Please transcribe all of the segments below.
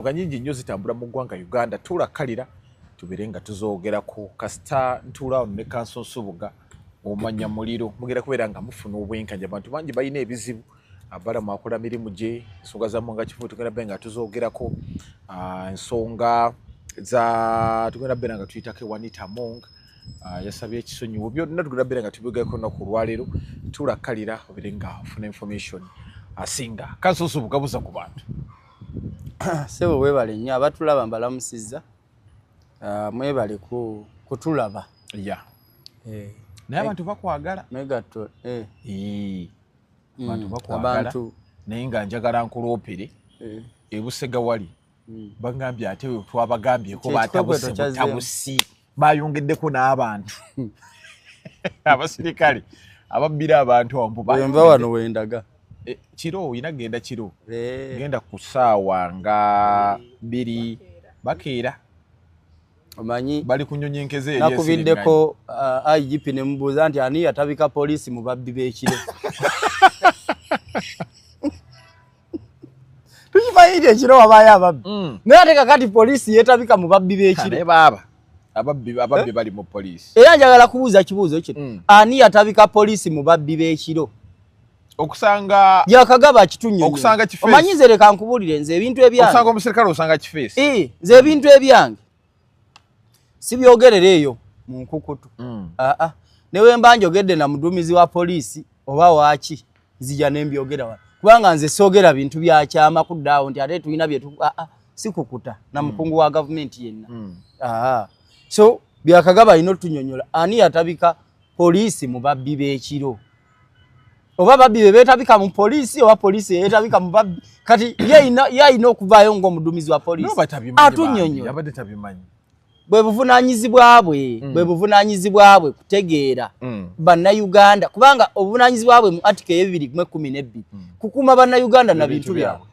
nga nyingi nnyo zitambula mu ggwanga uganda tulakalira tubere nga tuzogerako kasita ntuulaawo ne kanso nsubuga omanya muliro mugera kubeera nga mufuna obwenkanya abantu bangi balina ebizibu abala mwakola mirimu gye ensonga zamu nga kifu tugenda be nga tuzogerako ah, ensonga za tugenda beera nga tuyitako ewanita mong ah, yasabye ekisonyiwo byonna tugenda beera nga tubigerako naku olwaleero tulakalira obere nga ofuna information asinga kanso nsubuga buza ku bantu sebo webale nnyo abatulaba mbalamusizza ah, mwebale kutulaba ya eh. naye abantu bakwagala megatto eh. hmm. abantu bakwagala naye nga njagala nkuloopere eh. ebusega wali hmm. bagambye ate twabagambyeko batabusi bayongeddeko n'abantu abasirikale ababbira abantu awomubaenva wano wendaga e, kiro olina genda kiro eh. genda ku saawa nga biri bakeera omanyi bali kunyonyi nkeze nakubiddeko uh, igp nemubuuza nti ani yatabika poliisi mu babbi b'ekiro tukimanyi nti ekiro wabaayo ababbi mm. naye ate kakati poliisi yeetabika mu babbi b'ekiro baaba ababbi ababbi eh? bali mu poliisi era njagala kubuuza kibuuzo kino mm. ani yatabika poliisi mu babbi b'ekiro okusanga yakagaba kitunyo okusanga kifeesi omanyi nze leka nkubuulire nze ebintu ebyange okusanga omusirikale osanga kifeesi ee eh, nze ebintu ebyange sibyogerera eyo mu nkukutu mm. aa ah, ah. newe mba njogedde na muduumizi wa poliisi oba waaki nzija ne mbyogera wano kubanga nze soogera bintu byakyama kuddaawo nti ate tulina byetu aa ah, sikukuta na mm. mukungu wa gavumenti yenna mm. aa so byakagaba alina otunyonyola ani yatabika poliisi mu babbi b'ekiro oba babbi be beetabika mu poliisi oba poliisi eyeetabika mu babbi kati yalina okuvaayo ng'omuduumizi wa poliisi atunyonyola bwe buvunaanyizibwa bwe mm. bwe buvunaanyizibwa bwe kutegeera mm. bannayuganda kubanga obuvunaanyizibwa bwe mu atika eyebibiri mu ekkumi n'ebbiri mm. kukuuma bannayuganda na bintu byabwe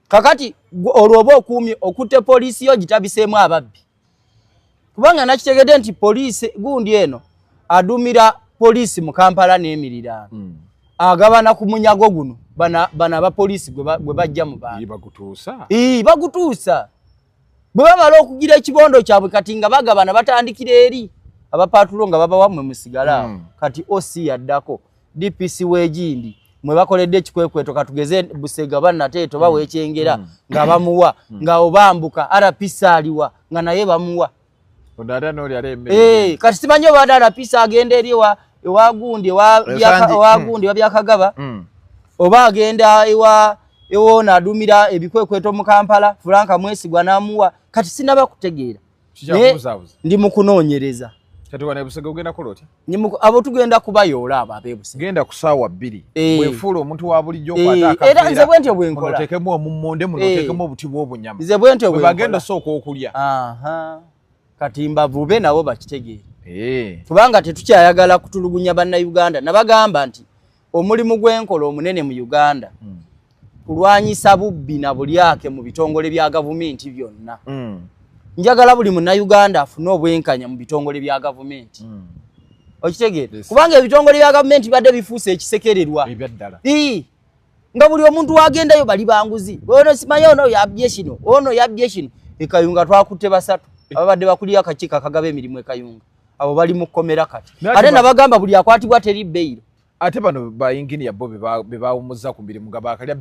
kakati olwo oba okuumye okutte poliisi yo gitabiseemu ababbi kubanga nakitegedde nti poliisi gundi eno adumira poliisi mu kampala n'emiriraano hmm. agabana ku munyago guno bano abapoliisi gwe bajja mu bantubagutuusa bwe bamala okugira ekibondo kyabwe kati nga bagabana batandikira eri abapatulo nga babawamwe musigala awo hmm. kati oc yaddako DPC w'Egindi mwe bakoledde ekikwekweto katugeze Busega banna teeto bawa mm. ekyengera mm. nga bamuwa mm. nga obambuka RPC aliwa nga naye bamuwa eh, kati simanyi obadde RPC agenda eri ewagundi ewagundi wabyakagaba oba agenda ewa ewoona adumira ebikwekweto mu Kampala Frank Mwesigwa n'amuwa kati sinaba kutegeera ndi mukunoonyereza abo tugenda kubayoola abo abebusegenda ku saawa bbiri eh. wefuula omuntu wa bulijjo eh, era nze bwentyo bwenkolatekemu omummonde muno otekemu eh. obuti bw'obunyama nze bwentyo bwebagenda sooka okulya kati mbavube nabo bakitegeere kubanga tetukyayagala kutulugunya bannayuganda nabagamba nti omulimu gwenkola omunene mu uganda mm. kulwanyisa bubbi na bulyake mu bitongole bya gavumenti byonna mm. njagala buli munauganda afune obwenkanya mu bitongole bya gavumenti mm. okitegeera yes. kubanga ebitongole bya gavumenti bibadde bifuuse ekisekererwa ebyaddala nga buli omuntu wagendayo bali banguzi ono simaye ono yabye kino ono yabye kino ekayunga twakutte basatu eh. ababadde bakulira akakiiko akagaba emirimu ekayunga abo bali mu kkomera kati ate nabagamba buli akwatibwa teri beyiro ate bano bayinginiya bo bebawumuzza ku mirimu nga bakalya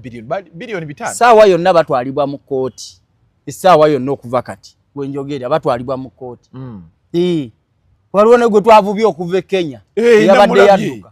biliyoni bitaano saawa yonna batwalibwa mu kkooti essaawa yonna okuva kati wenjogeera batwalibwa mu kkooti hmm. waliwo negwe twavubye okuva e kenya eyabadde yadduka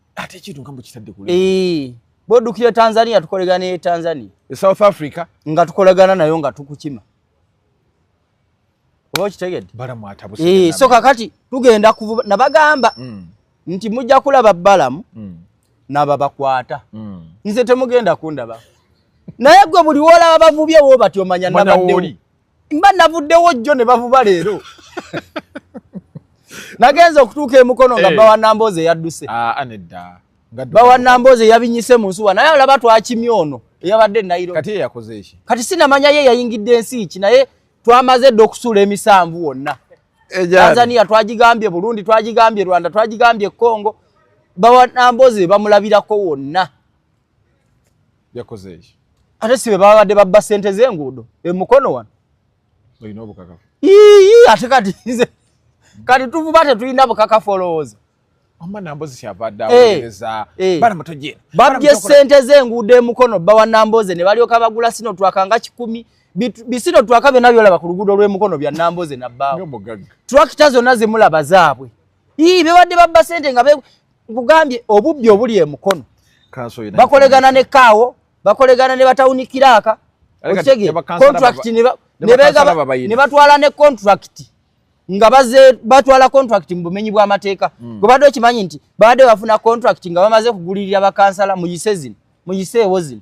ate ekintu nga mukitadde ku eh, bwodukira tanzania tukolegana e tanzania e south africa nga tukolegana nayo nga tukukima oba okitegedde eh, so kakati tugenda kuvuba nabagamba mm. nti mujja kulaba balamu mm. nababakwata mm. nze temugenda kundaba naye gwe buli wolaba bavubye wo batyo manya nabadde mba navuddewo jjo ne bavuba leero nagenza okutuuka emukono nga eh. bawa namboozi eyadduse ah, ah, nedda bawa namboozi eyabinyise mu nsuwa naye alaba twakimya ono eyabadde nairo kati eyakoze eki kati sinamanya ye yayingidde ensi ki naye twamaze dda okusuula emisanvu wonna eh, tanzania twagigambye burundi twagigambye rwanda twagigambye congo bawa namboozi bamulabirako wonna yakoze eki ate sibe babadde babba sente zenguudo emukono wano olina obukakafu ii ate kati nze kati tuvuba tetulina bukakafu olowooza eh, eh. babye sente zenguudo emukono bawa namboze ne balyoka bagula sino twaka nga kikumi bisino twaka byonna byolaba ku luguudo lw'emukono bya namboze nabbaawo tulakita zonna zemulaba zaabwe ii bebadde babba sente nga nkugambye obubbi obuli emukono bakolegana ne kaawo bakolegana ne batawunikiraaka okitege contract ne batwala ne contract nga baze batwala contract mu bumenyi bw'amateeka hmm. gwe badde okimanyi nti baadde bafuna contract nga bamaze kugulirira bakansala mu yise zino mu yise ewo zino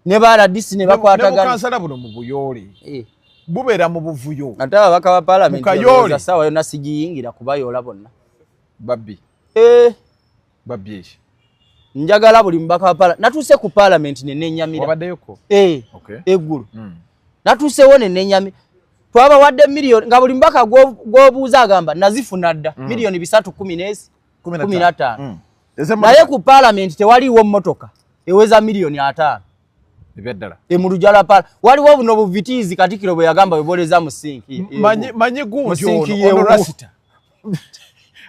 ne baradisi ne bakwataganabukansala buno mu buyoole eh. bubeera mu buvuyo ate ababaka ba palamenti sawa yona sigiyingira kubayoola bonna babbi eh. babbi eki njagala buli mubaka wa palamenti natuuse ku palamenti nenenyamiraabaddeyoko eh. eggulu hmm. natuusewo nenenyami twabawadde miliyoni nga buli mubaka gwobuuza agamba nazifuna dda hmm. miliyoni bisatu kumi nezi kumi nataano hmm. naye ku palamenti tewaliiwo mmotoka eweza miliyoni ataano ebyaddala emuluja lwa paala waliwo buno buvitiizi katikiro bwe yagamba bweboleza musinki manyi gundi ono rasita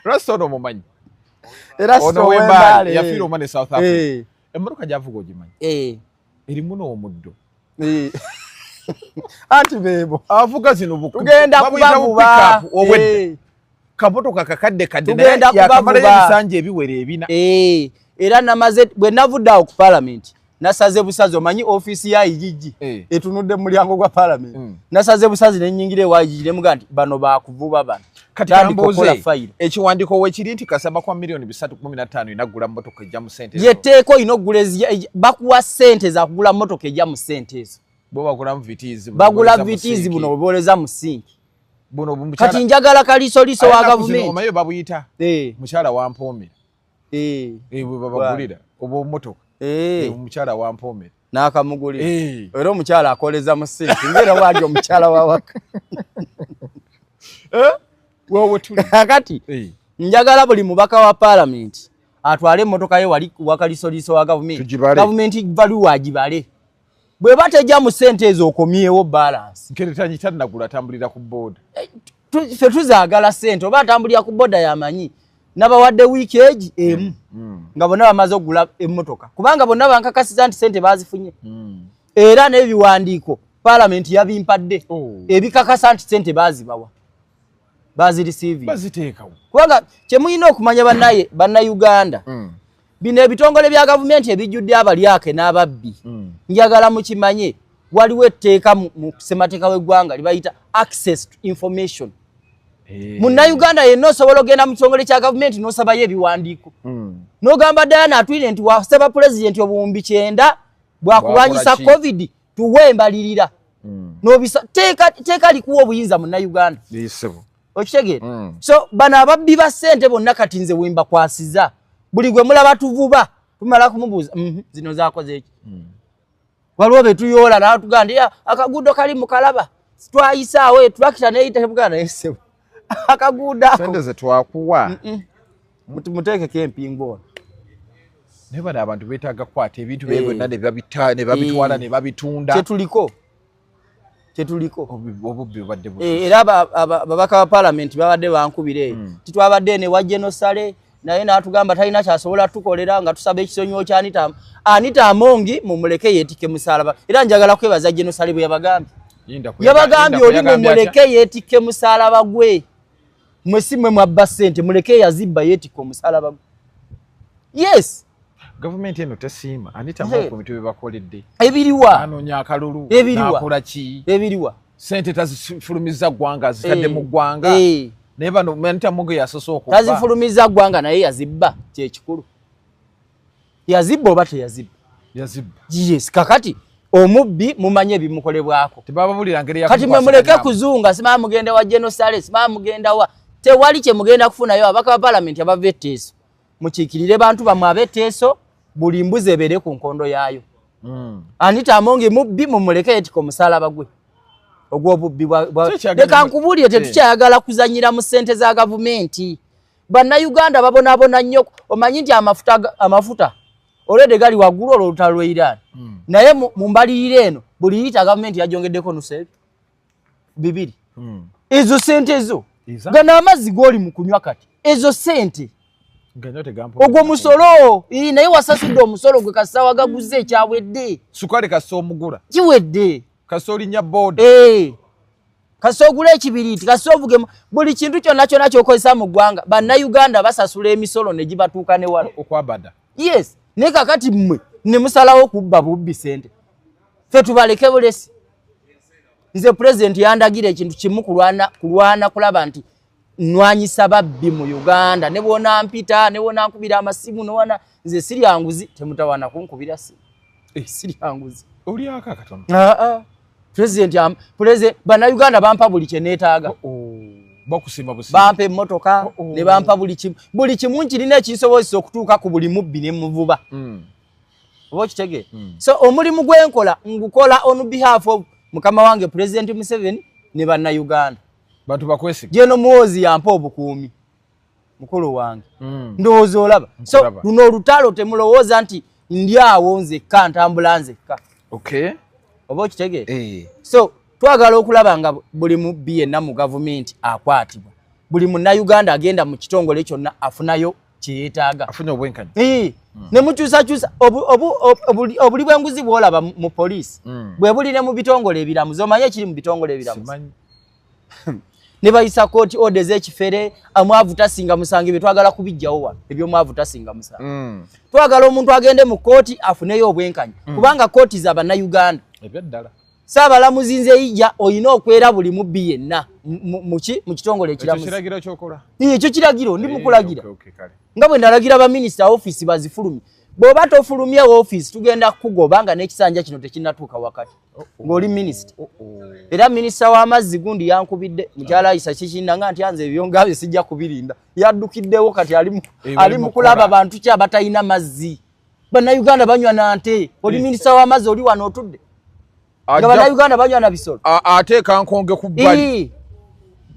rasta ono omumanyi ono wembaale yafiira omwana e south africa eh. emmotoka gyavuga ogimanyi eh. erimu n'omuddo eh. anti bebo avuga zino tugenda kubavuba obwedda kamotoka kakadde kadde naye yakamalayo ebisanja ebiwera ebina era namaze bwe navudde awo ku palamenti nasaze busazi omanyi office ya ijiji hey. Eh. etunudde mu mulyango gwa parliament mm. nasaze busazi ne nyingire wa ijiji ne mugandi bano ba kuvuba bano kati kamboze file ekiwandiko we kiri nti kasaba kwa milioni 315 inagula motoka ya mu sente ye teko inogula ezi bakuwa sente za kugula motoka ya mu sente ezo bo bagula mu vitizi bagula vitizi buno boleza mu sink buno bumchara kati njagala kaliso liso wa government omayo babuyita hey. Eh. mchara wa mpomera eh. Eh, bwebabagulira oba omumotoka eh. omukyala wampomera nakamugulira era omukyala akoleza mu sinti ngaera wali omukyala wawaka kakati njagala buli mubaka wa palamenti atwale emotoka ye wali wakalisoliiso wa gavumenti gavumenti baluwa agibale bweba tejja mu sente ezo okomyewo balance nkere tanyi tanagula tambulira ku board eh, fe tuzagala sente oba atambulira ku boda yamanyi nabawadde wiiki egi emu mm, mm. nga bonna bamaze okugula emmotoka kubanga bonna bankakasiza nti sente bazifunye mm. era n'ebiwandiiko palamenti yabimpadde oh. ebikakasa nti sente bazibawa bazirisiivi kubanga kyemulina okumanya banaye bannayuganda Bino ebitongole bya gavumenti ebijjudde abalyake n'ababbi mm. njagala mukimanye waliwo etteeka mu ssemateeka w'eggwanga libayita access to information eh. munnayuganda yenna osobola ogenda mu kitongole kya gavumenti n'osabayo ebiwandiiko mm. n'ogamba ddala naatwire nti wasaba pulezidenti obuwumbi kyenda bwakulwanyisa covid tuwe embalirira mm. nobisa teeka likuwa obuyinza munnayuganda okitegeera mm. so bano ababbi ba sente bonna kati nze wemba kwasiza buli gwe mulaba tuvuba tumala kumubuuza mhm, zino zakoze eki mm. waliwo betuyoola natugandi akaguudo kali mukalaba twayisaawo etulakita neyitabugaa naye sebo akaguudo akosente zetwakuwa muteekeko empingu ono naye bano abantu betaaga kukwata ebintu bye eh. byonna nebabitwala eh. nebabitunda kyetuliko kyetuliko eh, era babaka ba palamenti babadde bankubira eyo hmm. titwabadde ene wa genosale naye natugamba talina kyasobola tukolera nga tusaba ekisonyiwo kya anita anita amongi mumuleke yetike musalaba era njagala kwebaza genosale bwe yabagambye yabagambye oli mumuleke yetike musalaba gwe mwe si mwe mwabba sente muleke yazibba yetika omusalaba gwe yes gavumenti eno tesiima anitamu ku bintu bye bakoledde ebiriwa anoonya akalulu nakola ki ebiriwa sente tazifulumiza ggwanga zitadde mu ggwanga naye bano anitamuge yasose okuba tazifulumiza ggwanga naye yazibba kyekikulu yazibba oba teyazibba yazibba yes kakati omubbi mumanye ebimukolebwako kati mwe muleke kuzunga simaa mugenda wa genosale simaa mugenda wa tewali kyemugenda kufunayo abaka ba palamenti abava etteeso mukiikirire bantu bamwe abeteeso buli mbuzi ebeere ku nkondo yaayo hmm. anita amongi mubbi mumuleke yetika omusalaba gwe ogwobubbi leka nkubuulire tetukyayagala kuzanyira mu sente za gavumenti bannayuganda babonabona nnyo omanyi nti amafuta amafuta olwedde gali waggulu olwo olutalo lwe iran hmm. naye mu mbalirira eno buli yita gavumenti yajongeddeko nusebi bibiri hmm. ezo sente ezo gano amazzi goli mu kunywa kati ezo sente ogwo musolo naye wasasudde omusolo gwe kasita wagaguza ekyawedde sukali kasita omugula kiwedde kasita olinya boda eh. kasita ogula ekibiriiti kasita ovuge buli kintu kyonna kyonna kyokozesa mu ggwanga bannayuganda basasula emisolo ne gibatuuka ne wala okwabada yes naye kakati mmwe ne musalawo kubba bubbi sente fe tubaleke bulesi nze pulezidenti yandagira ekintu kimu kulwana kulaba nti nwanyisa babbi mu uganda ne bwona mpita ne bwona nkubira amasimu nowana nze siri anguzi temutawana kunkubira si eh, siri anguzi olyaka katono ah, ah. president am president bana uganda bampa buli kye netaga oh, oh. bakusimba busi bampa emotoka oh, oh. ne bampa buli kimu buli kimu nkirina ekisobozesa okutuuka ku buli mubbi ne muvuba mm. oba okitege hmm. so omulimu gwenkola ngukola on behalf of mukama wange president museveni ne bannauganda bantu bakwesiga jeno muwozi yampa obukuumi mukulu wange hmm. ndowooza olaba so luno olutalo temulowooza nti ndi awo nzekka ntambula nzekka okay oba okitege eh. so twagala okulaba nga buli mubbi yenna mu gavumenti akwatibwa buli munnauganda agenda mu kitongole kyonna afunayo kyeyetaaga afunye obwenkanya hmm. ne mukyusakyusa obuli bwenguzi bwolaba mu poliisi hmm. bwe buli ne mu bitongole ebiramuzi omanye ekiri mu bitongole ebiramuzi ne bayisa kooti ode ez'ekifere amwavu tasinga musango ebyo twagala kubijjawo wano ebyomwavu tasinga musango hmm. twagala omuntu agende mu kooti afuneyo obwenkanya kubanga kooti za bannayuganda ebyaddala Ssaabalamuzi nze ija olina okwera buli mubbi yenna muki mu kitongole ekiramuekyo kiragiro ndi mukulagira nga bwe nalagira baminisita ofiisi bazifulumye bw'oba tofulumye ofiisi tugenda kukugoba nga n'ekisanja kino tekinnatuuka wakati oh, oh. ng'oli minisita oh, era minisita w'amazzi gundi yankubidde mukyala ayisa kikinda nga nti anze ebyo ngabye sijja kubirinda yaddukiddewo kati ali mu eh, kulaba bantu ki abatalina mazzi bannayuganda banywa na nte oli minisita w'amazzi oli wano otudde nga bannayuganda banywa na bisolo ateeka nkonge ku bbali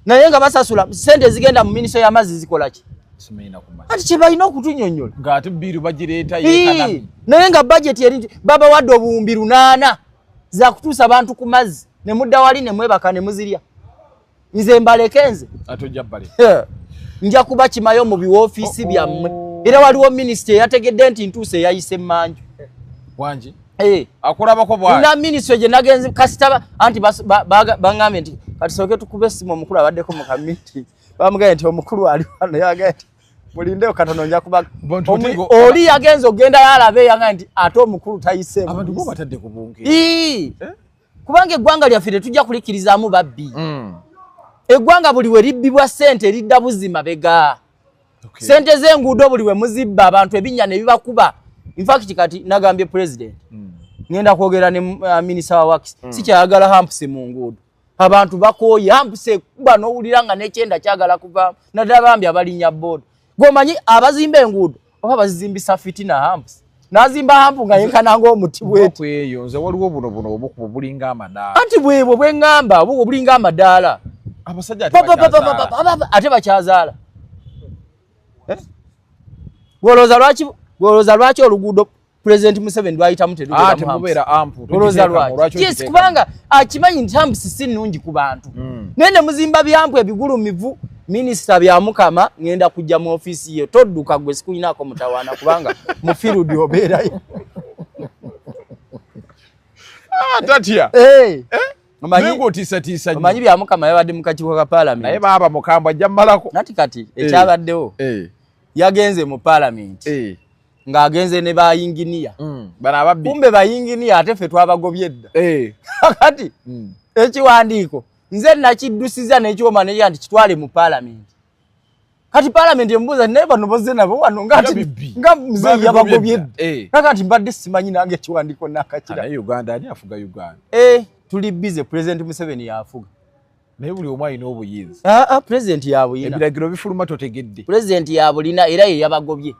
naye nga basasula sente ezigenda mu minisita y'amazzi zikola ki ati kyebalina okutunyonyola naye nga bajeti eri baba wadde obuwumbi lunaana zakutuusa bantu ku mazzi ne mudda wali ne mwebaka ne muzirya nze mbaleke nze nja kuba kimayo mu biwoofiisi oh, oh. byammwe era waliwo minisita eyategedde nti ntuusa eyayise manju wangi eh. akulabako bwana ministry je nagenze kasita anti bangambe nti kati soke tukube simu omukulu abadde ko mukamiti bamugaye nti omukulu ali wano yagaye nti mulinde okatono nja kuba oli yagenze ogenda yalabe yanga nti ate omukulu tayise abantu bo batadde kubunge eh kubanga eggwanga lyaffe tetujja kulikkirizaamu babbi mm. eggwanga buli we libbibwa ssente eridda buzima bega ssente okay. z'enguudo buli we muzibba abantu ebinnya ne bibakuba infact kati nagambye president mm. ngenda kwogera ne uh, minisita wa wakisi mm. sikyayagala hampusi mu nguudo abantu bakooye hampusi ekuba n'owulira nga n'ekyenda kyagala kuvaamu naddala bambi abalinya booda Gomanyi abazimba enguudo oba bazizimbisa fitina hamps. Nazimba hampu nga yenkana ngo omuti bwetu. Kwa eyo nze waliwo buno buno obukubo bulinga amadaala. Anti bwebwo bwengamba obukubo bulinga amadaala. Abasajja ate bakyazaala. Ate bakyazaala. Eh? Gwolooza lwaki gwolooza lwaki oluguudo president Museveni lwayitamu terubeera ah, ampu olowooza lwaki yes kubanga akimanyi nti ambusi si nnungi ku bantu hmm. naye ne muzimba byampu ebigulumivu minisita byamukama ŋenda kujja mu ofiisi ye todduka gwe sikulinaako mutawaana kubanga mufirudi obeerayo ah, tatya eh. eh? omanyi byamukama yabadde mu kakiiko ka palamenti naye baaba mukambwa ajja mumalako nati kati ekyabaddewo yagenze mu palamenti ng'agenze ne bayinginiya mm. kumbe bayinginiya ate ffe twabagobye edda eh. kati mm. ekiwandiiko nze nakiddusiza nekyoma neya nti kitwale mu paalamenti kati paalamenti emubuuza naye bano boze nabo wano nga mzeyi yabagobye edda eh. nakati mbadde simanyi nange ekiwandiiko nakakira eh. tuli bize pulezidenti museveni yafuga naye buli omu alina obuyinza ah, ah, pulezidenti yabuyina ebiragiro bifuluma totegedde pulezidenti yabulina era ye yabagobye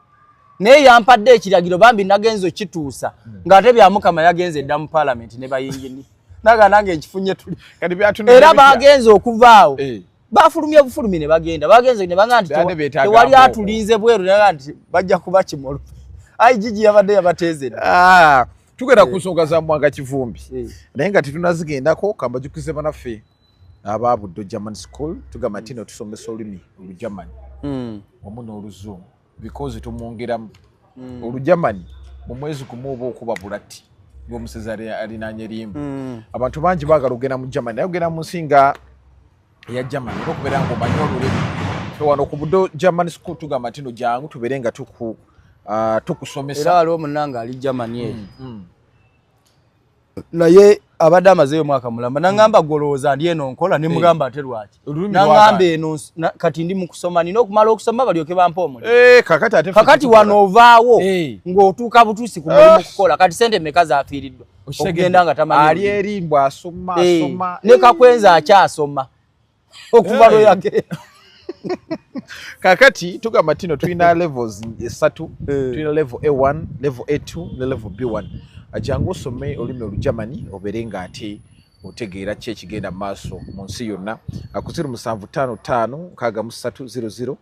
naye yampadde ekiragiro bambi nagenza okituusa hmm. ng'ate byamukama yagenze edda mu palamenti ne bayingini naga nange nkifunye tuli era bagenze okuvaawo eh. bafulumye bufulumi ne bagenda bagenze ne banga nti tewali atulinze bweru naga nti bajja kuba kimolo ai jiji yabadde yabateezera ah. tugenda ku nsonga za mwanga kivumbi naye nga tetunazigendako kambajukize banaffe aba buddo german school tugamba nti no tusomesa olulimi olugermani hmm. wamu n'oluzungu because tumwongeramu hmm. olugermani mu mwezi gumu oba okuba bulati ng'omusezi alinanya erimba hmm. abantu bangi baagala okugenda mu germany naye okugenda mu nsi nga eya germany era okubeera nga omanyi olulimi fe wano ku budo german school tugamba ntino jangu tubeere nga tuku ah, tukusomesa era waliwo munanga ali germany eyo mm, mm. naye abadde amazeyo omwaka mulamba nangamba mm. golowooza ndi eno nkola nemugamba ate lwaki nangamba eno kati ndi mukusoma nina okumala okusoma balyoke bampa omuli eh, kakati wano ovaawo ng'otuuka butuusi ku mulimu okukola kati sente meka zafiiriddwa okugenda nga tamanyi ali eri mbu asoma eh, asoma ne kakwenza akyasoma okuva eh. lwe yage kakati tugamba tino tulina levels esatu eh. tulina level a1 level a2 ne level b1 ajangu osome olulimi olugermany obeere nga ate otegeera ki ekigenda mu maaso mu nsi yonna akuziro musanvu tano tano nkaaga mu satu ziro ziro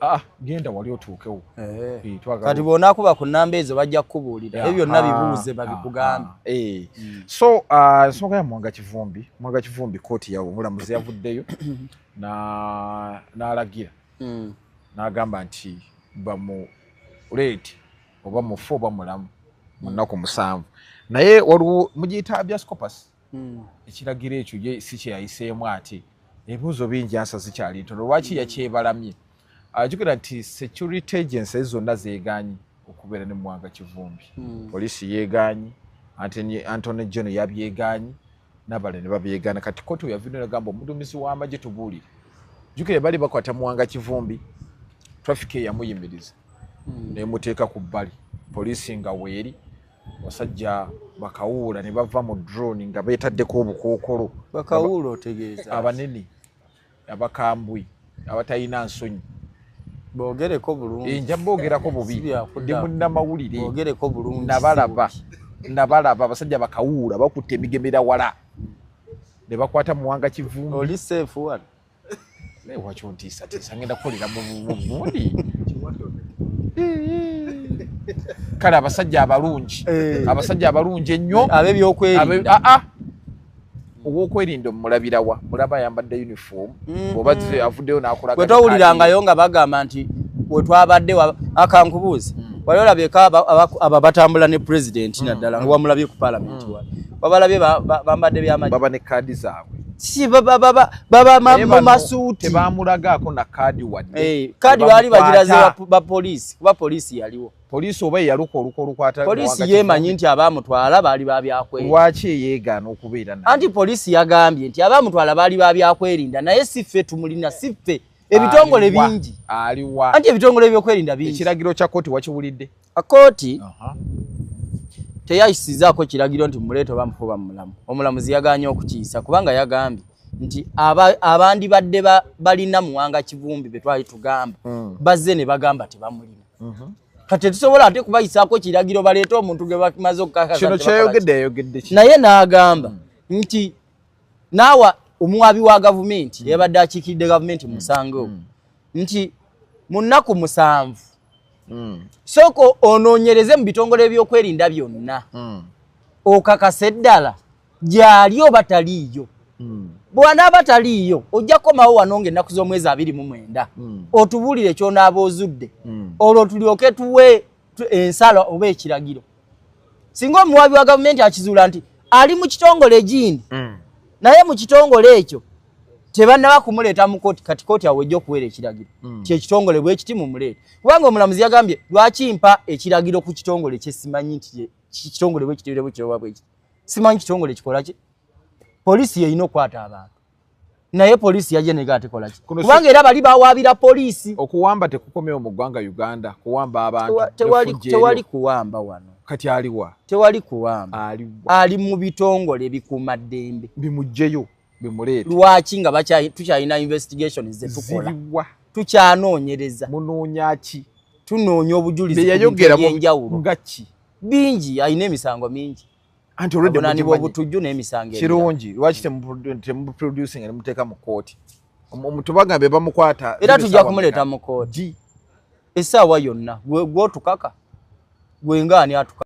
Ah, ah, genda wali otuukewo eh. Eh, kati bwonakuba ku namba ezo bajja kukubuulira ebyo byonna ah, bibuuze babikugambe eh. hmm. so nsonga ya mwanga kivumbi mwanga kivumbi kooti yawo omulamuzi yavuddeyo n'alagira hmm. n'agamba nti bamuleeti oba mufu oba mulamu munaku musanvu naye waliwo mugiyita biascopus hmm. ekiragiro ekyo ye si kyeyayiseemu ate ebibuuzo bingi ansa zikyali ntono lwaki hmm. yakyebalamye ajukira nti security agency zonna zeeganyi okubeera ne muwanga kivumbi hmm. poliisi yeeganyi antony geno yabyeganyi nabale ne babyegaana kati koti weyavino nagamba omuduumizi w'amagye tubuulire jukira bali bakwata muwanga kivumbi traffic eyamuyimiriza nemuteeka ku bbali poliisi nga weeri basajja bakawuula ne bava mu drone nga beetaddeko obukookolo bakawuula otegeeza abanene abakambwe abatalina nsonyi bogereko bulungi eh, nja bogerako bubi ndi munnamawulire bogereko bulungi nabalaba nabalaba abasajja bakawuula bakutte emigemera wala ne bakwata muwanga kivumbi oli seefu wano naye waki ontiisatiisa ngenda kukolera mubundi kale abasajja abalungi eh. abasajja abalungi ennyo eh, abebyokwerinda ah, ah. owokwerinda omulabirawa mulaba ayambadde uniform mm-hmm. oba avuddeyo nakolawetowulirangayo nga bagamba nti wetwabadde akankubuuzi mm. wali olabyeko abo batambula ne president mm. naddala nga wamulabye ku palamenti mm. wabalabye bambadde byamababa ne kaadi zaabwe si baba baba baba mambo masuti tebamulagaako na kaadi wadde hey, eh, kaadi baali bagiraze ba poliisi kuba poliisi yaliwo poliisi oba eyaluka oluka olukwata poliisi yeemanyi nti abaamutwala baali babyakwerinda lwaki eyeegaana okubeera na anti poliisi yagambye nti abaamutwala baali babyakwerinda naye si ffe tumulina si ffe ebitongole bingi aliwa anti ebitongole ebyokwerinda bingi ekiragiro kya kooti wakiwulidde Akoti uh -huh. teyayisizaako kiragiro nti mumuleeta oba mufuba mumulamu omulamuzi yaganye okukiyisa kubanga yagambye nti abandibadde aba balina muwanga kivumbi betwali tugamba mm. bazze ne bagamba tebamulina mm -hmm. kati tetusobola ate kubayisaako kiragiro baleete omuntu ge bamaze okukakakino kyayogedde yayogedde naye n'agamba mm. nti naawa omuwaabi wa gavumenti mm. yabadde akiikiridde gavumenti musango mm. mm. nti mu nnaku musanvu hmm. sooka onoonyereze mu bitongole ebyokwerinda byonna hmm. okakasa eddala gyali oba taliiyo hmm. bwanaaba taliiyo ojja kukomawo wano nga ennaku z'omwezi abiri mu mwenda otubuulire kyonaaba ozudde olwo tulyoke tuwe ensala oba ekiragiro singa omuwaabi wa gavumenti akizuula nti ali mu kitongole egiini mm. naye mu kitongole ekyo tebannaba kumuleeta mu kooti kati kooti awo ejja okuweera ekiragiro mm. kyekitongole bwekiti mumuleete kubanga omulamuzi yagambye lwaki mpa ekiragiro ku kitongole kyesimanyi nti kitongole bwekitirebwe kiroba bwekiti simanyi kitongole kikolaki poliisi yeyina okukwata abantu naye poliisi yajja nega atekola ki kubanga era bali bawaabira poliisi okuwamba tekukomewo mu ggwanga uganda kuwamba abantu tewali kuwamba wano kati aliwa tewali kuwamba ali mu bitongole bikuuma ddembe bimugjeyo bimuleete lwaki nga tukyalina investigation zetukola tukyanoonyereza munoonya ki tunoonya obujulizi beyayogera byenjawulo nga ki bingi alina emisango mingi anti already munani bo butujju ne misange kirungi lwaki temu producing ne muteka mu court omutubaga be bamukwata era tujja kumuleta mu court esawa yonna gwe gwotukaka gwe ngani atuka